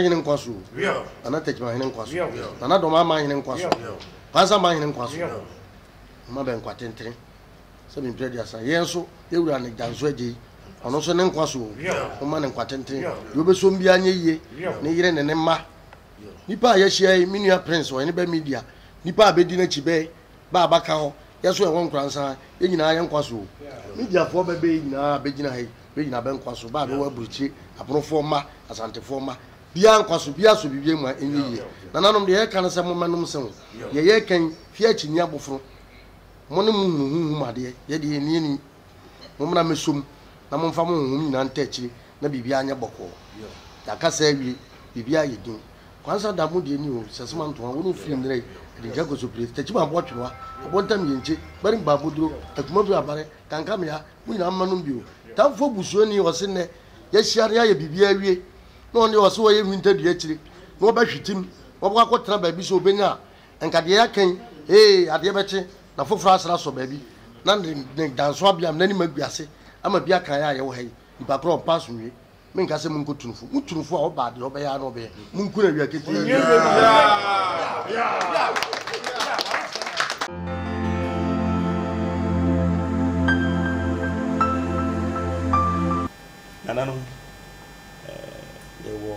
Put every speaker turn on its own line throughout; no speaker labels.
hene nkwa so o, Nana Tɛkyima hene nkwa so, Nana Dɔm Aman hene nkwa so, Kwansa man hene nkwa so, Mma bɛ nkwa tentene sɛ me mpira aduasa, yɛn nso yɛ wura ne gya nso agye yi, ɔno nso ne nkwa so o, momma ne nkwa tentene, deɛ ɔbɛsom biara nyɛ yie, ne yere ne ne mma. Nnipa a yɛahyia yi, me nua Prince Ɔhene Bɛ Media, nnipa a bɛdi n'akyi, bɛ, bɛ a bɛaka hɔ, yɛ nso yɛwɔ Nkoransan, yɛn nyinaa yɛ nkwa so o. Mediafoɔ bɛ bɛ yi nyinaa a bɛgyina ha yi, Bɛgyina bɛ nkwa so, bɛ a bɛwɔ aburukyire, Abonofoɔ mma, Asantefoɔ mma. Biaa nkwa so, biaa sɔ biribiaa mu a ɛnyɛ yie. Nananom, deɛ yɛreka ne sɛ mommɛnom nsa mu. Deɛ yɛreka yi, fie akyi nni abofono. Mo ne mo hunu honhom adeɛ, yɛ deɛ yɛnni ani. Mommra mmɛsɔ mu, na momfa mo honhom nyinaa ntaa akyire, na biribiaa nyɛ bɔkɔɔ. Yɛaka saa awie, biribiaa ayɛ din. Kwansa da, mo deɛ ni oo, Sɛsema Ntoa, wo ne wo firi nnɛrɛ yi, Adinkya Kosopire, Takyima Aboɔtwerewa, Abontam Yenkye, Gbarim Baaboduro, Atumafiri Abare, Kankamea, mo nyinaa mma nom bio. Tamfo busuani a ɔse nnɛ yɛahyia na yɛayɛ biribiara awie na ɔno deɛ ɔse ɔyɛ nhwintadua akyire na ɔbɛhwete mu na ɔbɛkɔ akɔtena baabi sɛ ɔbɛnya a, nka deɛ yɛaka yi, ee, adeɛ bɛkye na foforɔ asane asɔ baabi na ne dansoabeam no anim agu ase ama bi aka yɛn a yɛwɔ ha yi, nnipa korɔ ɔmpa asomdwoe. menka sɛ monkɔtu no fo. Motu no fo a, ɔbaa deɛ ɔbɛyɛ ara na ɔbɛyɛ. Monku no awia ketee biara.
Nananom, yɛwɔ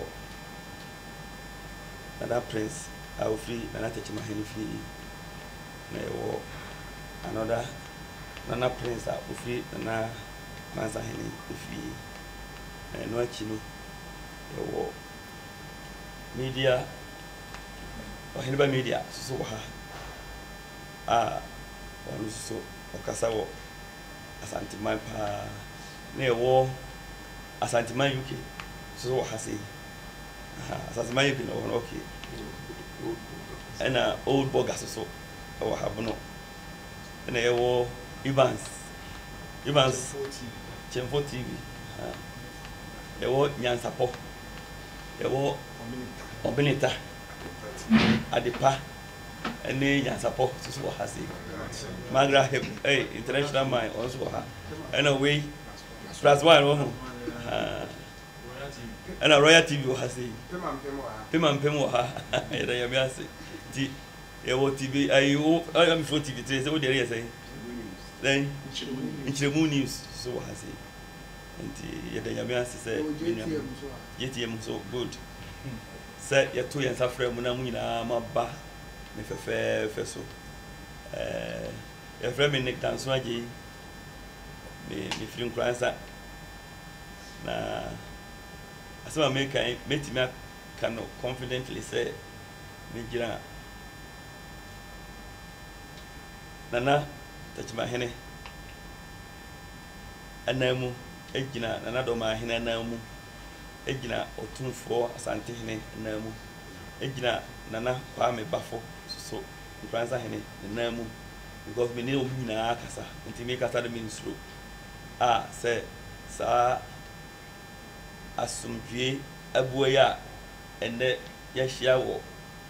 Nana Prince a ɔfiri Nana Kyɛkyɛm Ahene fie yi, na yɛwɔ another Nana Prince a ɔfiri Nana Kwanzaa Ahene fie yi. Na ɛno akyi no, yɛwɔ media, Ɔheneba Media nso wɔ ha a ɔno nso so ɔkasa wɔ Asanteman paa. Na yɛwɔ Asanteman UK nso wɔ ha sei. Aha, Asanteman UK na ɔwɔ hɔ no, okay. Ɛna Old Boga nso so wɔ ha bono. ɛna yɛwɔ Evans Evans Kyɛnfo TV yɛwɔ Nyansapɔ yɛwɔ Ɔbeneta Adepa ɛne Nyansapɔ soso wɔ ha sei Magra Hip ɛy International Mine wɔn nso wɔ ha ɛna wei Plus One wɔ ho ɛna Royal TV wɔ ha sei Pema Mpem wɔ ha yɛda nyame ase nti Yɛwɔ TV ayi wo ɛm fo TV tire sɛ wo deɛ ɛyɛ sɛn? Sɛn? Nkyerɛmu news so wɔ ha sei nti yɛda nyame ase sɛ me nua JTM nso good sɛ yɛto yɛn nsa frɛ mo na mo nyinaa mo aba ne fɛfɛɛfɛ so ɛɛ yɛfrɛ me Nick Danso Agyei me mefiri Nkoransa na asɛm a meka yi mɛtumi aka no confidently sɛ Megyina Nana Takyimahene anan mu, gyina Nana Dɔmahene anan mu, gyina Ɔtumfoɔ Asantehene nan mu, gyina Nana Kwame Bafo so Nkoranza Hene ne nan mu because me ne wɔn nyinaa kasa nti me kasa no me nsuro a sɛ saa asomdwie abua yi a ɛnɛ Yɛahyia wɔ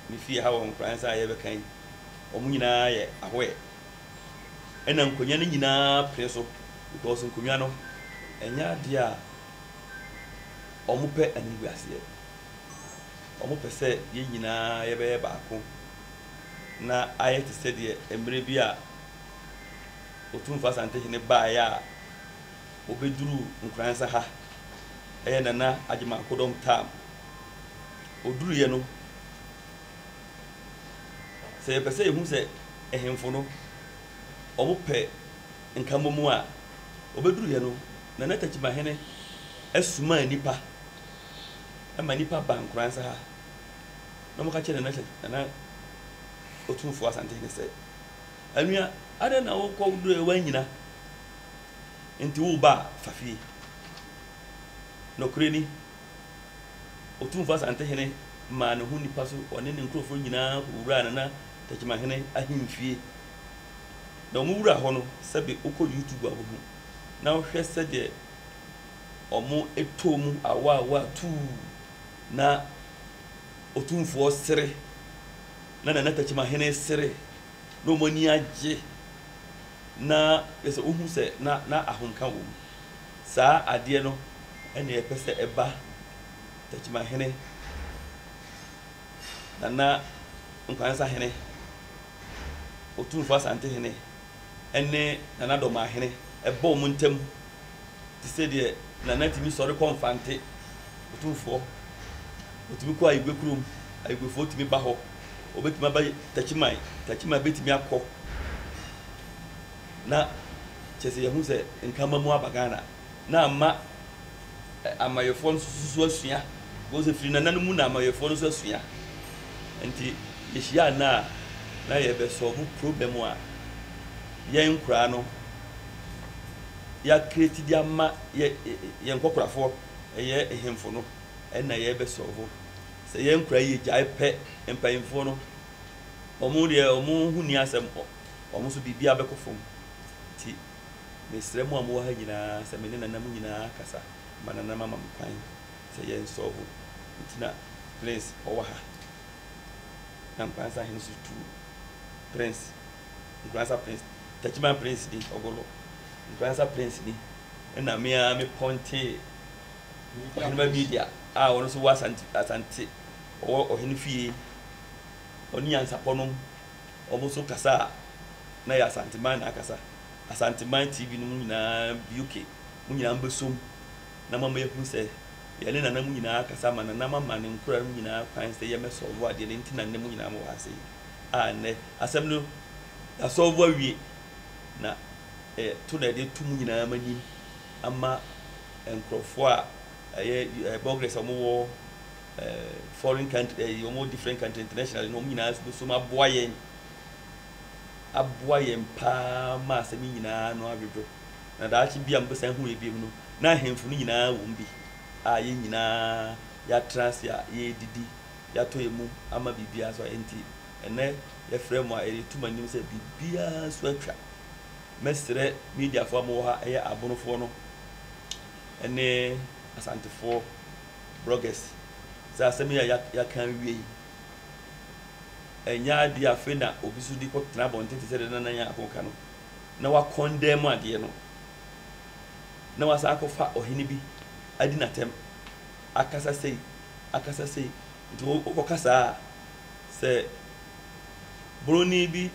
me fie ha wɔ nkoransa a yɛrebɛka yi. Wɔn nyinaa yɛ ahoɛ. Ɛna nkonnwa no nyinaa pene so because nkonnwa no, ɛnyɛ adeɛ a wɔpɛ animguaseɛ. Wɔpɛ sɛ yɛn nyinaa yɛbɛyɛ baako na ayɛ te sɛdeɛ mmerɛ bi a Otumfoɔ Asantehene baeɛ a, Wɔbɛduruu Nkoranza ha, ɛyɛ Nana Agyeman-Kodɔm tam. Ɔduruiɛ no, sɛ yɛpɛ sɛ yɛhu sɛ ahemfo no, wɔpɛ nkammɔmu a, wɔbɛduruiɛ no, Nana Takyimahene soma nnipa ma nnipa ba Nkoranza ha na wɔka kyerɛ Nana Takyi, Nana Otumfoɔ Asantehene sɛ, Anua, adɛn na wokɔduruiɛ woannyina? Enti wo ba a, fa fie. Nokorɛ ni, Otumfoɔ Asantehene maa ne ho nipa so, ɔne ne nkorɔfoɔ nyinaa kɔwuraa Nana Tɛkyemahene ahemfie. Na wɔwuraa hɔ no, sɛbe wokɔ YouTube a wobɛhu, na wohwɛ sɛdeɛ wɔtɔɔ mu awaawaa tuu, na Otumfoɔ sere, na Nana Tɛkyemahene sere. na wɔn ani agye, na kyerɛ sɛ wohu sɛ na na ahomka wom. Saa adeɛ no na yɛpɛ sɛ ɛba Takyimahene, Nana Nkwansahene, Otumfoɔ Asantehene ne Nana Domahene, ɛba wɔn ntam. te sɛ deɛ Nana tumi sɔre kɔ Mfante, Otumfoɔ, ɔtumi kɔ Ayigwe kurom, Ayigwefoɔ tumi ba hɔ, ɔbɛtumi aba Takyiman, Takyiman bɛtumi akɔ na kyɛ sɛ yɛhu sɛ nkama mu aba Ghana na ama amayɛfoɔ no nso asua because ɛfiri Nana no mu na amayɛfoɔ no nso asua nti yɛhyia Nana a na yɛbɛsɔbo problem a yɛn nkoraa no yɛ create de ama yɛ yɛn nkɔkorafoɔ ɛyɛ hemfo no ɛna yɛ bɛ solve sɛ yɛn nkora yɛ gyae pɛ mpanyinfoɔ no wɔn deɛ wɔn ho ni asɛm wɔn nso biribiara bɛkɔ fam ti mesrɛ mu a mo wɔ ha nyinaa sɛ me ne nana mu nyinaa kasa ma nana ma ma me kwan sɛ yɛn solve nti na prince ɔwɔ ha na nkwansa hene so tu prince Nkurasa Prince, Takyiman Prince ni, Ogolo, Nkurasa Prince ni, ɛna me ara me pɔntee Ɔhenema Media a ɔno nso wɔ Asante, Asante, ɔwɔ Ɔhene Fie, ɔne Nyansapɔ nom, wɔn nso kasa a na yɛ Asanteman na akasa, Asanteman TV no mu nyinaa UK, mo nyinaa mbɛsom na mama yɛhu sɛ yɛne nana mu nyinaa akasa ama nana mama ne nkora mu nyinaa kwan sɛ yɛmɛsɔlvo adeɛ no nti na nnɛ mu nyinaa mowɔ ase yi. a nnɛ asɛm no yɛasɔlvo awie na ɛto na ɛde to mu nyinaa ma nim ama nkurɔfoɔ a ɛyɛ eh, bloggers a wɔwɔ eh, foreign country eh, wɔwɔ different country internationally na wɔn nyinaa bosom aboa yɛn aboa yɛn paa ma asɛm yi nyinaa no adwodwo na daakye bi a mobɛsan hu yɛ biom no na ahemfo no nyinaa wɔm bi a yɛn nyinaa yɛatra ase a yɛredidi yɛatɔ yɛn mum ama biribiara so enti ɛnnɛ yɛfrɛ mo a yɛde to mo anim sɛ biribiara so atwa. Mɛsrɛ mediafoɔ a mowɔ ha, ɛyɛ Abonofoɔ no ne Asantefoɔ bloggers sɛ asɛm yi a yɛaka awie yi ɛnyɛ adeɛ afei na obi so de kɔtena abɔnten te sɛ deɛ Nana Nyarko ka no na wakɔndɛn mu adeɛ no na wasan akɔfa ɔhene bi adi n'atɛm. Akasa sei, akasa sei. Nti wo wokɔ kasa a, sɛ Boroni bi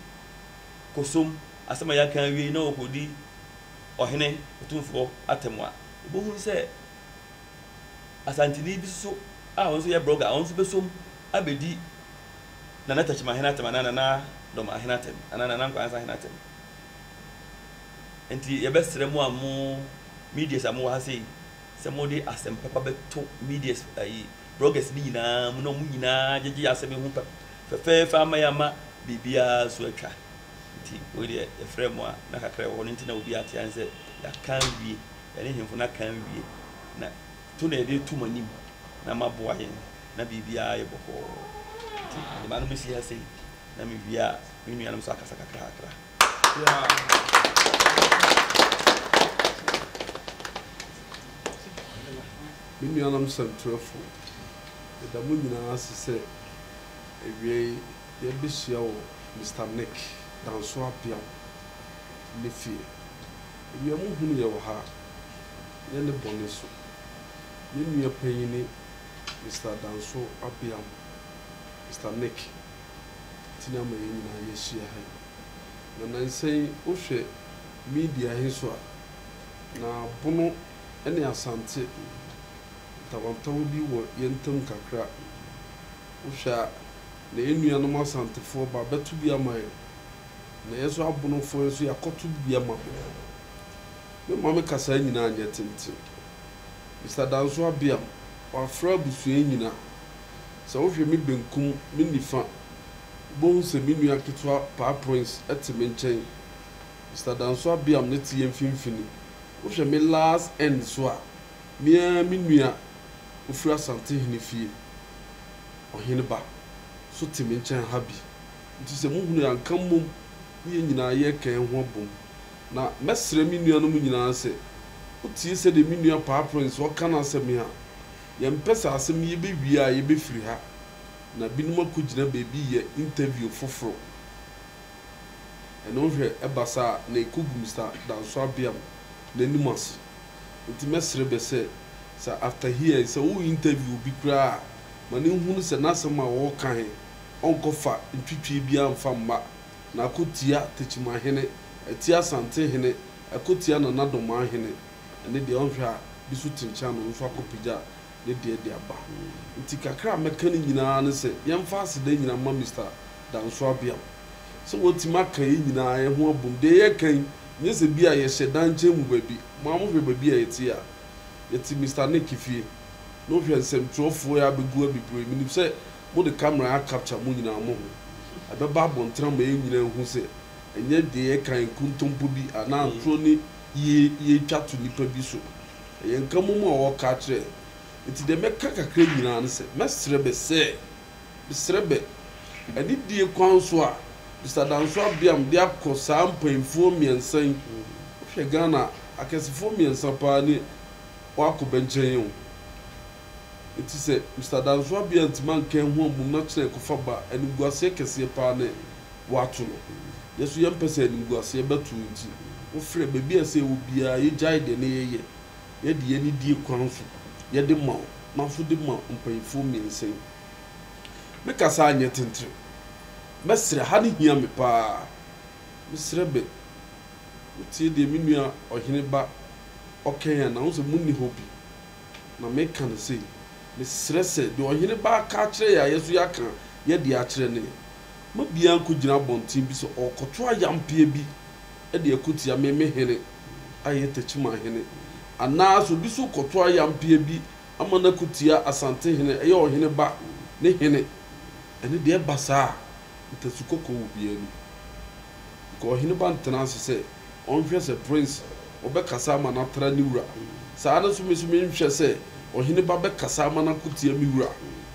kosom asɛm a yɛaka awie yi na ɔkɔdi Ɔhene Otumfoɔ atɛm a, wobɛhunu sɛ Asanteni bi nso a ɔno nso yɛ blogger a ɔno nso bɛsom abɛdi Nana Takyimahene atɛm anaa Nana Dɔmahene atɛm anaa Nana Nkwansa Hene atɛm. Nti yɛbɛsrɛ mo a mo medias a mowɔ ha sei, Sɛ mode asɛm papa bɛto medias ayi bloggers no nyinaa mu na wɔn nyinaa gyegye asɛm yi ho pɛ fɛfɛɛfɛ ama yɛama biribiara so atwa nti wei deɛ yɛfrɛ mo a na kakra ɛwɔ hɔ no nti na obi ate an sɛ yɛaka awie yɛne hemfo no aka awie na to na yɛde to mo anim na maboa yɛn na biribiara yɛ bɔkɔɔ nti mede manom si ha sei na mewie a me nuanom nso akasa kakrakra.
Me nuanom sɛmtwerɛfo, meda mo nyinaa ase sɛ awiei yɛabɛhyia wɔ Mister Nick Danso Apeaw ne fie. Awia mu hunu yɛ wɔ ha, nyɛ ne bɔne so. Yɛn nua panyin ne Mister Danso Apeaw, Mister Nick. nti na ama yɛn nyinaa yɛahyia ha yi. Na nnansa yi wohwɛ media he so a, na Bono ne Asante ntawantawa bi wɔ yɛn ntam kakra. Wohwɛ a, na yɛn nuanom Asantefoɔ ba bɛto bi ama yɛn, na yɛn nso Abonofoɔ nso yɛakɔto bi ama ho. Memma me kasaa nyinaa nyɛ tenten. Mister Danso Abiam, wɔafrɛ abusua yi nyinaa Sɛ wohwɛ me benkum, me nifa, wubehu sɛ me nua ketewa Paa Prince te me nkyɛn. Mister Danso Abiam no te yɛn mfimfini. Wohwɛ me last end nso a, me ara me nua ofiri Asantehene fie, Ɔheneba, nso te me nkyɛn ha bi. Enti sɛ muhunu a, nka mmom ne yɛn nyinaa yɛreka yɛn ho abom. Na mɛsrɛ me nuanom nyinaa sɛ, wotie sɛdeɛ me nua Paa Prince ɔka n'asɛm yi a, Yɛmpɛ saa asɛm yi bɛwie a yɛbɛfiri ha na binom akɔgyina baabi yɛ interview foforɔ. Ɛno hwɛ ɛba saa a na ɛkɔgu Mister Danso Abeam n'anim ase. Nti mɛsrɛ bɛ sɛ, sɛ after here sɛ wo interview obi koraa a ma no nhunu sɛ n'asɛm a ɔreka he ɔnkɔfa ntwitwie biaa mfa mma na akɔtia Tekyimahene, atia Asantehene, akɔtia Nana Domaa hene. ɛne deɛ ɔnhwɛ a bi so kyenkyen ano mfa kɔpagya ne deɛ de aba. Nti kakra a mɛka ne nyinaa ne sɛ yɛmfa aseda nyinaa mma Mister Danso Abiam sɛ watumi aka yɛn nyinaa yɛn ho abom. Deɛ yɛreka yi, nyɛ sɛ bi a yɛhyɛ dan nkyɛn mu baabi. Mo ara mohwɛ baabi a yɛte yi a, yɛte Mister Nick fie. Na wohwɛ nsɛmtwerɛfoɔ yi ara bɛgu abibire. Menim sɛ mode camera a capture mo nyinaa mo ho. Ɛbɛba abɔntene ama yɛn nyinaa ahu sɛ ɛnyɛ deɛ yɛreka yi nkontompo bi anaa atorɔ ne Yie yie twa to nipa bi so ɛyɛ nkamom a ɔɔka akyerɛ nti deɛ mɛka kakra nyinaa ne sɛ mɛsrɛ bɛ sɛ mesrɛ bɛ anidie kwan so a Mister Danso Abiam de akɔ saa mpainfoɔ mmiɛnsa yi wohwɛ Ghana akɛsefoɔ mmiɛnsa paa ne wɔakɔ bɛ nkyɛn yɛ wo nti sɛ Mister Danso Abiam ntumi anka ɛho ammom na kyena ɛkɔfa ba animguaseɛ kɛseɛ paa ne wɔato no. Yɛn nso yɛmpɛ sɛ animguaseɛ bɛto nti, wofrɛ baabi a ɛsɛ wɔ biara, yɛgyae deɛ na yɛyɛ, yɛde yɛn anidie kwan so, yɛde ma wo, na nso de ma mpaninfoɔ mmiɛnsa yi. Me kasa anyɛ tentene. Mɛsrɛ, ha no hia me pa ara. Mesrɛ bɛ, motie deɛ me nua ɔhene ba ɔkɛn anaa? Wohu sɛ monni hɔ bi, na meka no sei. Mesrɛ sɛ, deɛ ɔhene ba aka akyerɛ yɛn a yɛn nso yɛaka yɛn deɛ akyerɛ no yɛ. Ma obiara nkogyina abɔnten bi sɛ ɔrekɔto ayampeɛ bi de ako tia me, me hene, a ɛyɛ Techiman hene, anaa sɛ obi nso rekɔto ayampeɛ bi ama no ako tia Asante hene, a ɛyɛ ɔhene ba ne hene, ɛno deɛ ɛba saa a, ntasu kɔkɔɔ wɔ obiara anim. Nka ɔhene ba ntena ase sɛ ɔnhwɛ sɛ Prince ɔbɛkasa ama no atra ne wura, saa ara nso me nso menhwɛ sɛ ɔhene ba bɛkasa ama no ako tia me wura,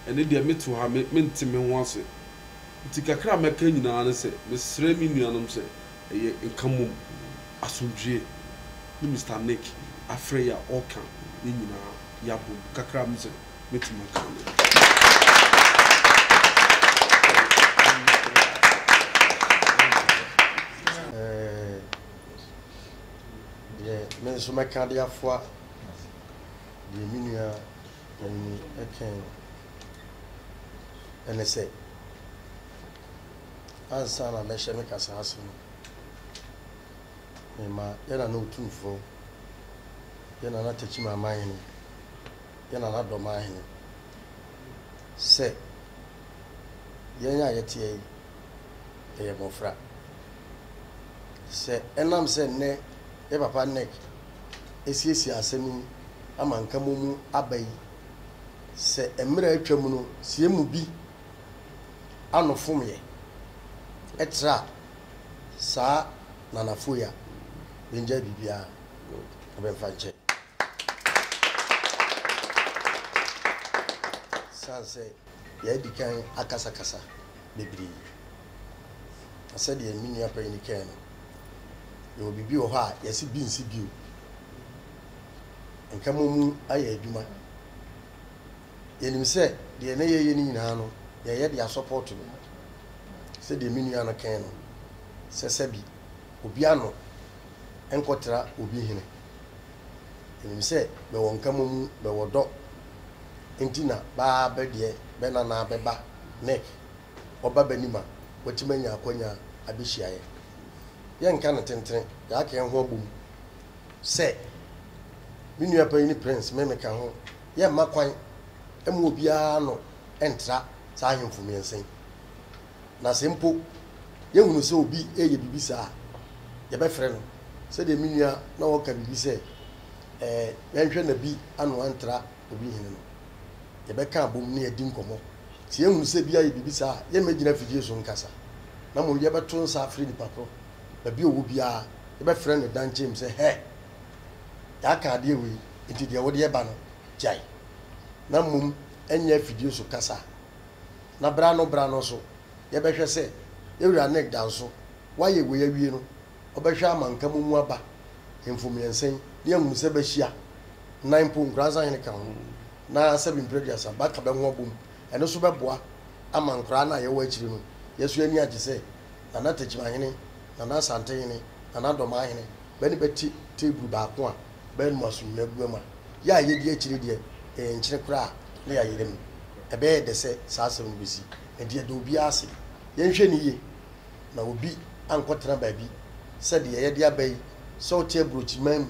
ɛno deɛ mete hɔ a, me, mente me ho ase. Enti kakra a mɛka nyinaa ne sɛ mesrɛ me nuanom sɛ ɛyɛ nka mmom asomdwoeɛ ne Mister Nick afrɛ yi a ɔreka yɛn nyinaa yɛabom kakra a mesɛ mɛtumi aka no. Deɛ me
nso mɛka de afoa deɛ me nua. Ani kyɛn ne sɛ, ansa na mɛhyɛ me kasa ase no, mema yɛn Nana Otumfoɔ, yɛn Nana Tekyima Amanhene, yɛn Nana Dɔmanhene sɛ yɛn a yɛteɛ yi yɛyɛ mmɔfra. Sɛ ɛnam sɛ nnɛ Yɛ papa Nick asiesie asɛm yi ama nkamu mu aba yi sɛ mmerɛ a atwa mu no sɛ yɛn mu bi ano fom yɛ ɛtra saa nanafo yi a bɛngyae biribiara na bɛmfa nkyɛ sane sɛ yɛadikan akasakasa bebree. Na sɛdeɛ me nua panin no kae no, yɛwɔ biribi wɔ hɔ a yɛse bi nsi bio. Nkamu mu ayɛ adwuma. Yɛnim sɛ deɛ na yɛyɛ no nyinaa no, yɛyɛ de asɔpɔɔto no. Sɛdeɛ me nua no kae no, sɛ sɛbi, obi ano nkɔtra obi hene. Enim sɛ bɛwɔ nkamomu, bɛwɔ dɔ nti na baa bɛ deɛ bɛ nanaa bɛba nɛ ɔba bɛ nim a watim anya akwanya abɛhyia yɛ. Yɛ nka no tentene, yaaka yɛ ho abom sɛ me nua panyini Prince me me ka ho, yɛ mma kwan mma obiara ano ntra saa ahemfo mmiɛnsa yi. Na sɛ mpo yɛhunu sɛ obi reyɛ biribi saa a, yɛbɛfrɛ no. Sɛdeɛ me nua na ɔreka biribi sɛ, ɛɛ, yɛnhwɛ na bi ano antra obi hene no. Yɛbɛka abom na yɛadi nkɔmmɔ. Sɛ yɛhunu sɛ bi ayɛ biribi saa a, yɛremmɛgyina afidie so nkasa, na mmom yɛbɛto nsa afrɛ nipa korɔ. Baabi a ɔwɔ biara, yɛbɛfrɛ no daa nkyɛn mu sɛ, Hɛ! Yɛaka adeɛ wei, enti deɛ wode reba no, gyae, na mmom ɛnyɛ afidie so kasa. na bere ano bere ano nso yɛbɛhwɛ sɛ yɛn wura Nick da nso. Wayɛ wei awie no, ɔbɛhwɛ ama nka mo mu aba hemfo mmiɛnsa yi ne ahunu sɛ bɛahyia, nnan mpo, nkoransa hene ka ho, na sɛbi mprɛduasa, bɛaka bɛ ho abom. Ɛno nso bɛboa ama nkoraa no a yɛwɔ akyire no, yɛso ani agye sɛ Nana Tekyimahene, Nana Asantehene, Nana Dɔmaahene, bɛ ne bɛ te teeburu baako a. Bɛn mu asomdwoe abura mu a yɛ a yedi akyiri deɛ yɛyɛ nkyene koraa na yɛayera mu? Ɛbɛyɛ dɛ sɛ saa asɛm no besi, na di ɛdɔw biara ase. Yɛnhwɛ no yiye na obi ankɔtena baabi sɛ deɛ yɛde aba yi, sɛ wote aburokyiman mu,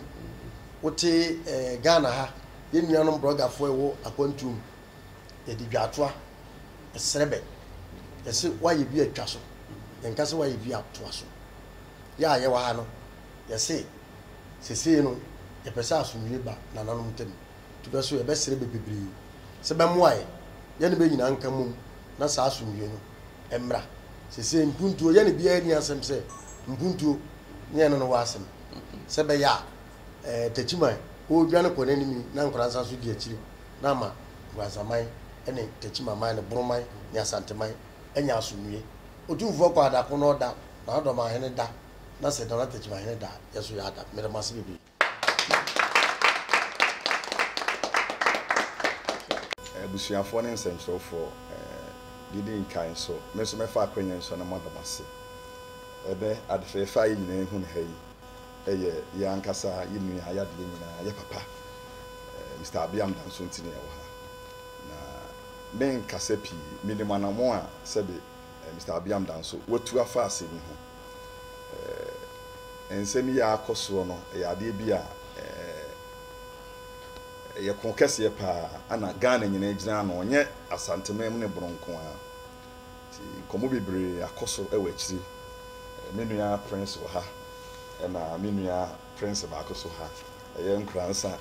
wote ɛɛ Ghana ha, yɛn nuanom brɔgafoɔ a ɛwɔ akwantuo mu, yɛde dwaatoa srɛ bɛ. Yɛse woayɛ bi a twa so, yɛnka sɛ woayɛ bi a toa so. Yɛ a yɛwɔ ha no, Yɛse, Sesei no, yɛpɛ sɛ asomdwie ba nananom ntam, nti bɛ so yɛbɛsrɛ bɛ bebree sɛ bɛmmoa yɛn, yɛne bɛ nyinaa nka mmom na saa asomdwie no mmra. Sesei mpuntuo yɛne biara nni asɛm sɛ mpuntuo ne yɛne no wɔ asɛm, sɛ ɛbɛyɛ a Takyiman ɔredwane kɔ n'anim yi na Nkoransa nso di akyire na ama Nkoransaman ne Takyimaman ne Boroman ne Asanteman anya asomdwie. Otumfoɔ Kwaadako na ɔda, Nanadomaahene da. na sɛ Nana Tekyimahene da a, yɛn nso yɛada. Meda mo ase bebree.
Abusuafoɔ ne nsɛnkyerɛwfoɔ, didi nkan nso, me nso mɛfa akwanya yi so na mada mo ase. Ɛnnɛ, ade fɛɛfɛ a yɛn nyinaa ahu no ha yi yɛ yɛn ankasa, yɛn nua a yɛade yɛn nyinaa, yɛn papa, Mister Abiam Danso nti na yɛwɔ ha. Na merenkasa pii, menim anammɔn a sɛbe Mister Abiam Danso watu afa asɛm yi ho. eh, nsɛm yi a akɔ soɔ no, ɛyɛ adeɛ bi a eh, ɛyɛ ko kɛseɛ paa, ana Ghana nyinaa gyina ano, ɔnyɛ Asanteman mu ne Bono nko ara. Nti nkɔmmɔ bebree akɔ so wɔ akyiri. Eh, me nua Prince wɔ ha, ɛna me nua Prince baako so ha, ɛyɛ Nkoransa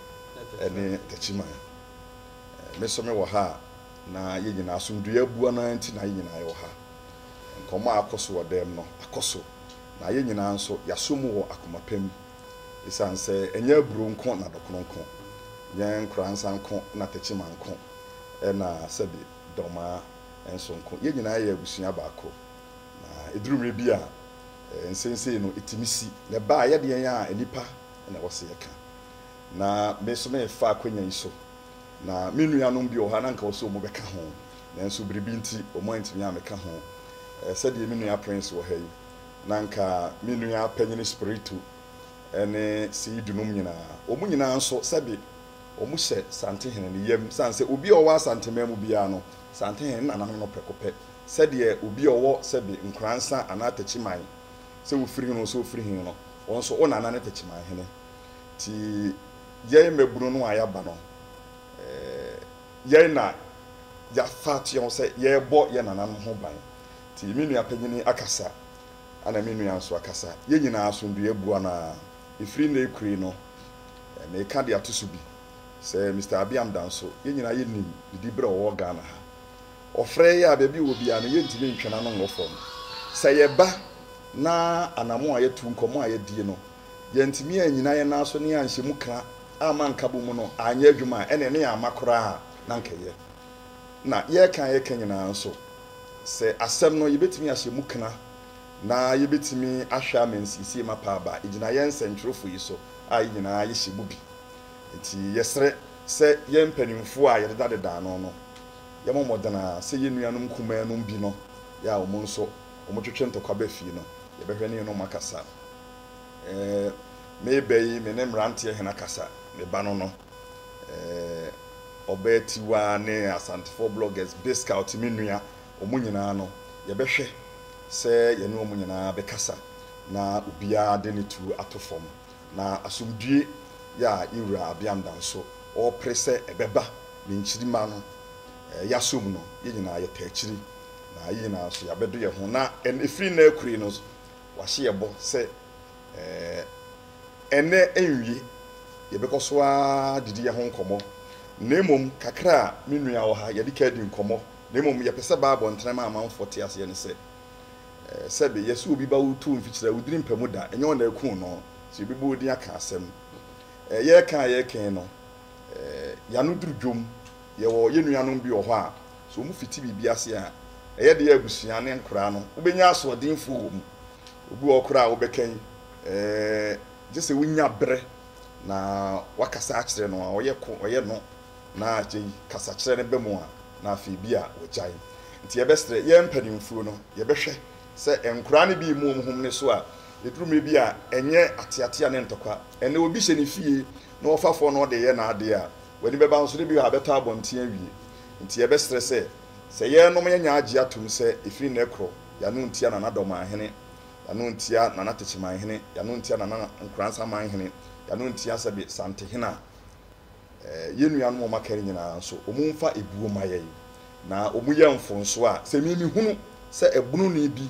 ne Takyiman. Eh, me so me wɔ ha a, na yɛn nyinaa asomdwoeɛ abua no ara nti na yɛn nyinaa yɛwɔ ha. Nkɔmmɔ a akɔ so wɔ dan mu no akɔ so, na yɛn nyinaa nso yɛasɔ mu wɔ akoma pa mu. Esiane sɛ ɛnyɛ aburow nko na dɔkono nko, ɛnyɛ nkora nsa nko na tekyima nko, ɛnna sɛ de dɔmmaa nso nko, yɛn nyinaa yɛ abusua baako. Na eduru mmere bi a, nsensɛn no tumi si, na ɛba a ɛyɛ deɛn a nnipa na ɛwɔ sɛ yɛka. Na me nso merefa akwanya yi so Na me nuanom bi wɔ hɔ a na anka ɔsɛ wɔbɛka ho, nanso biribi nti wɔantumi ammɛka ho. Ɛɛ, sɛdeɛ me nua Prince wɔ ha yi, na anka me nua panyin Espiritu ne Seyidu nom nyinaa. Wɔn nyinaa nso, sɛbe wɔhyɛ Santehene ne yam, sane sɛ obi a ɔwɔ Asanteman mu biara no, Santehene ne nananom no prɛko pɛ, sɛdeɛ obi a ɔwɔ sɛbe Nkoransa anaa Takyiman, sɛ wofiri he no, ɔsɛ ɔfiri he no, wɔn nso, wo nana ne Takyiman hene. Ntsi yɛn mbabun no a yɛaba no, yɛn na yɛafa ato ho sɛ yɛrobɔ hɛn nananom ho ban. Ntsi me nua panyin akasa, ana me nua so akasa, hɛn nyina asomdwee aboa no ara. Fir ndɛ ekuree no, merekã dze ato so bi, sɛ Mister Abiam da nso, hɛn nyina yenim ne diber a ɔwɔ Ghana ha. Ɔfrɛ yɛn a, beebi ɔwɔ biara no, yenntumi nntwe n'ano nngɔ famu. Sɛ yɛba na anamɔn a yɛto, nkɔmbɔ a yɛdzi no, Yɛantumi annyina yɛn nan so ne anhyɛ mu kra amma nkabom mu no anyɛ adwuma a, ɛnneɛ na yɛama koraa na anka ɛyɛ. Na yɛreka a yɛreka nyinaa nso, sɛ asɛm no yɛbɛtumi ahyɛ mu kra na yɛbɛtumi ahwɛ ama nsiesie mapa aba, ɛgyina yɛn nsɛntwerɛfoɔ yi so a yɛn nyinaa yɛhyɛ mu bi. Enti yɛsrɛ sɛ yɛn mpanimfoɔ a yɛdedadeda ano no, yɛmmɔ mmɔden ara sɛ yɛn nuanom nkumaa nom bi no, yɛ a wɔn nso wɔtwetwe ntɔkwa ba fie no, yɛbɛhwɛ ne yɛne wɔn akasa. eh, Me bɛ yi, me ne mmeranteɛ hena kasa? Me ba no no, eh, Ɔbaa Tiwaa ne Asantefoɔ bloggers, Biscout me nua, wɔn nyinaa no, yɛbɛhwɛ sɛ yɛne wɔn nyinaa bɛkasa na obiara de ne tuo ato fam, na asomdwoe yi a yɛn Wura Abeamda nso ɔrepere sɛ ɛbɛba ne nkyirimma no, eh, yɛasɔ mu no, yɛn nyinaa yɛtaa akyiri, na yɛn nyinaa nso yɛabɛdɔ yɛn ho, na ɛn, ɛfiri nnɛ akuri no, Wɔahyɛ yɛn bɔ sɛ ɛnnɛ anwie yɛbɛkɔ so ara adidi yɛn ho nkɔmmɔ, na mmom kakra a me nua wɔ ha, yɛde ka di nkɔmmɔ, na mmom yɛpɛ sɛ Bible ntrɛm a amanfoɔ te aseɛ ne sɛ, sɛbe yɛse obi ba wo too mfikyire a, wo diri mpa mu da, ɛnyɛ wo na akum no, nti yɛbɛbɔ wo din aka asɛm. Yɛreka a yɛreka yi no, yɛano duru dwom. Yɛwɔ yɛn nuanom bi wɔ hɔ a, sɛ wɔfiti biribi ase a, ɛyɛ den a abusua ne nkwadaa no wobɛnya asoɔdenfoɔ wɔ mu. Obi wɔ hɔ koraa a wobɛka yi, gye sɛ wonya berɛ na woakasa akyerɛ no. Ɔyɛ ko, ɔyɛ no, na akyire yi kasakyerɛ no ba mu a, na afei ebia wagyae. Nti yɛbɛsrɛ, yɛn mpanimfoɔ no, yɛbɛhwɛ sɛ nkwadaa no bi remmɔ wɔn ho mmene so a, ɛduru mmerɛ bi a, ɛnyɛ ateatea ne ntɔkwa. Ɛnnɛ obi hyɛ ne fie na ɔfafoɔ na ɔde reyɛ n'adeɛ a, W'ani bɛba nso dɛ bi a abɛtɔ abɔnten awie. Ntsi yɛbɛserɛ sɛ, sɛ yɛrenom a yɛnyɛ agye ato mu sɛ efi nnɛ krɔ, yɛanom ntsia Nana Dɔman Hene, yɛanom ntsia Nana Techiman Hene, yɛanom ntsia Nana Nkoransa Man Hene, yɛanom ntsia sɛbe Santehene a. Ɛɛ, yɛn nuanom a wɔaka no nyinaa nso, wɔmfa ebuo mma yɛn, na wɔnyɛ mfonso a, sɛ emi mehunu sɛ ɛbononii bi,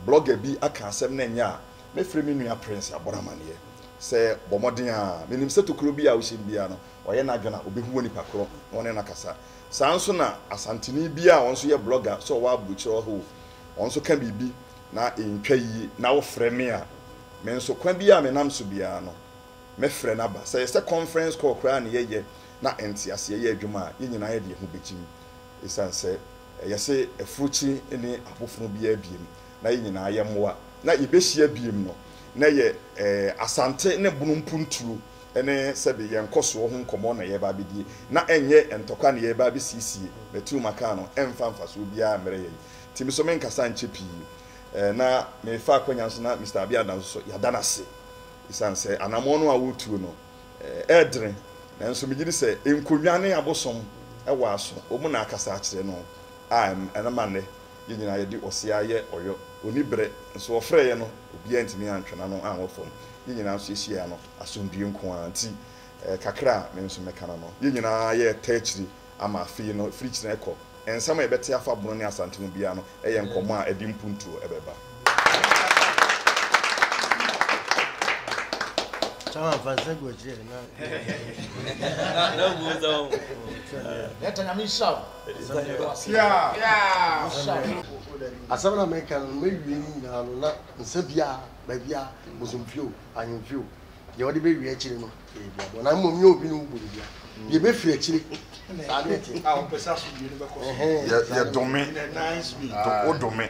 blogger bi, aka asɛm na ɛnyɛ a, Mɛfrɛ me nua Prince abɔ no amaneɛ sɛ bɔ mmɔden ara. Menim sɛ tokuro biara a wohyɛ no biara no, ɔyɛ n'adwene a, ɔbɛhu onipa korɔ na ɔne no akasa. Saa ara nso na Asanteni biara a ɔno nso yɛ blogger sɛ ɔwɔ abokyire ɔhoo, ɔno nso ka biribi na ɛntwa yie na wofrɛ me a, me nso kwan biara a menam so biara no, mɛfrɛ no aba. Sɛ ɛyɛ sɛ conference call koraa na yɛyɛ na nteaseɛ yɛ adwuma a, yɛn nyinaa yɛde yɛn ho bɛgyem. Ɛsiane sɛ yɛse afurukyiri nni abofono biara biem, na yɛn nyinaa yɛ mmoa na yɛbɛhyia biem no, na ɛyɛ Asante ne Bono mponturo ne sɛbe yɛn nkɔsoɔ ho nkɔmmɔ na yɛreba abɛdie, na ɛnyɛ ntɔkwa na yɛreba abɛsiesie, matiu makaa no, ɛmfa mfasoɔ biara mmerɛ yɛn. Nti me so menkasa nkyɛ pii, na merefa akwanya nso na Mister Abiada nso so yɛada no ase ɛsiane sɛ anammɔn no a woretuo no ɛɛdene, nanso megye di sɛ nkonnwa ne abosom wɔ aso, wɔn na akasa akyerɛ no a ɛma nnɛ Yɛn nyinaa yɛde ɔsea yɛ ɔyɔ. Onni bere. Nso ɔfrɛeɛ no, obiara antumi antwe n'ano anwɔ fam. Yɛn nyinaa nso yɛhyiaa no. Asomdwoeɛ nko ara nti, kakra a me nso mɛka no no, yɛn nyinaa yɛreta akyiri ama afei no, firi kyena rekɔ. Nsɛm a yɛbɛte afa Bono ne Asante mu biara no yɛ nkɔmmɔ a ɛde mpuntuo bɛba.
Asɛm no a mereka no, mɛwie no nyinaa no, na nsa biara, baabiara, bosomfi o, ahemfi o, deɛ wɔde bɛwie akyire no, ɛyɛ duabɔ. Na mmom nyɛ obi ne wo bɔ nnua. Deɛ ɛbɛfiri akyire, saa
ne ɛteɛ. Yɛdome. Wodome.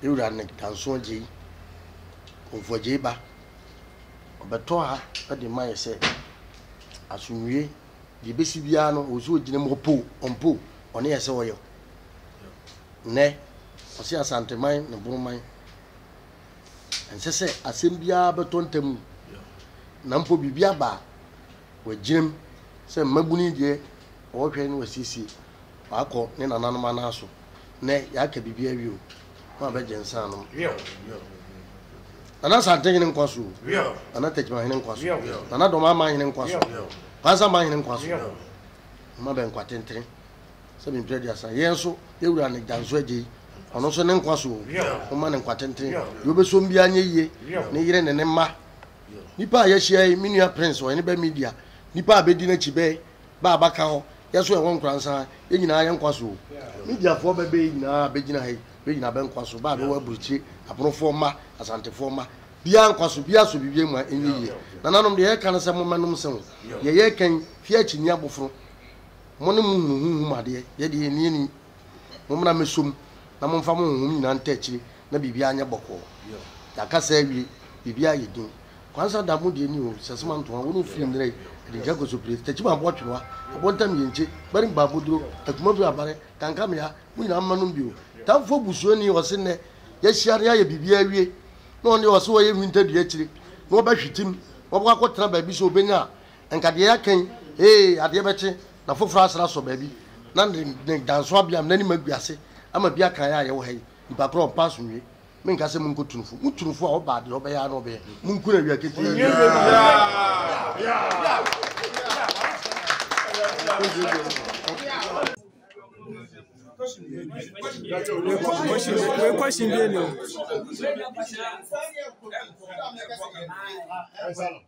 Me wura ne Dansoɔ Gyei, Komfoɔ Gyei ba. Ɔbɛtɔ ha de ma yɛ sɛ asomdwie deɛ ɛbɛsi biara no ɔwɔ sɛ ɔgyina mu ɔpo ɔmpo ɔne yɛ sɛ ɔyɛ nnɛ ɔse asanteman ne boroman ɛnsɛ sɛ asɛm biara bɛtɔ ntamu na mpo biribi aba a wagyinam sɛ mmabunu deɛ ɔhwɛ no wasiesie Ɔakɔ ne nananom anan so. Ndɛ yɛaka biribi awie o, hom abɛgye nsa anom. Nana Asantehene nkwa so o, Nana Techimanhene nkwa so, Nana Dɔm Amanhene nkwa so, Kwanzaa Amanhene nkwa so. Hom abɛn nkwa tentene sɛ me mpereduasa. Yɛn nso yɛn wura Negyanso Agyei, ɔno nso ne nkwa so o, hom mma no nkwa tentene. Deɛ ɔbɛsom biara nyɛ yie, ne yere ne ne mma. Nnipa a yɛahyia yi, me nua Prince, ɔhene bɛ media, nnipa a bɛdi n'akyi bɛ. bɛ a bɛaka hɔ, yɛ so yɛ hɔn nkoransa, yɛ nyina yɛ nkwa so o. Mediafoɔ bɛ bɛyi nyina a bɛgyina ha yi, bɛ nyina bɛ nkwa so, bɛ a bɛwɔ aburokyire, Abonofoɔ mma, Asantefoɔ mma, biaa nkwa so, biaa so biribiaa mu a ɛnyɛ yie. Nananom, deɛ yɛreka ne sɛ mommɛnom nsa mu, deɛ yɛreka yi, fie akyinnyeɛ abofono, mo ne mo hunu honhom adeɛ, yɛ deɛ yɛnni ani. Mommra mmɛsɔ mu, na momfa mo honhom nyinaa ntaa akyire na biribiara nyɛ bɔkɔɔ. Yɛaka saa awie. Biribiara ayɛ din. Kwansa da mu deɛ nni hɔ. Sasima ntoa, wo ne wo firi nnera yi, ɛde nkyɛn kɔsɔ pire, Takyima aboa twerewa, Ɛbɔntam yenkye, Barim baa Boduro, Akumafiri abare, Kankamea, mo nyinaa mma nom bio. Tamfoɔ busuani, ɔse nnɛ yɛahyia na yɛayɛ biribiara awie, na ɔno deɛ ɔse ɔyɛ nwinta dua akyire na ɔbɛhwetem, na wabɛkɔ akɔtena baabi sɛ ɔbɛnya a, nka deɛ yɛaka yi, ee, adeɛ bɛkye. Na foforɔ asane asɔ baabi, na ne ne danso abea mu, n'anim agu ase ama bi aka yɛn a yɛwɔ ha yi, Nnipa korɔ ɔmpɛ asomdwoe. Menka sɛ monkɔ tu no fo. Mo tu no fo a, ɔba a, deɛ ɔbɛyɛ ara na ɔbɛyɛ. Monku no awia ketee.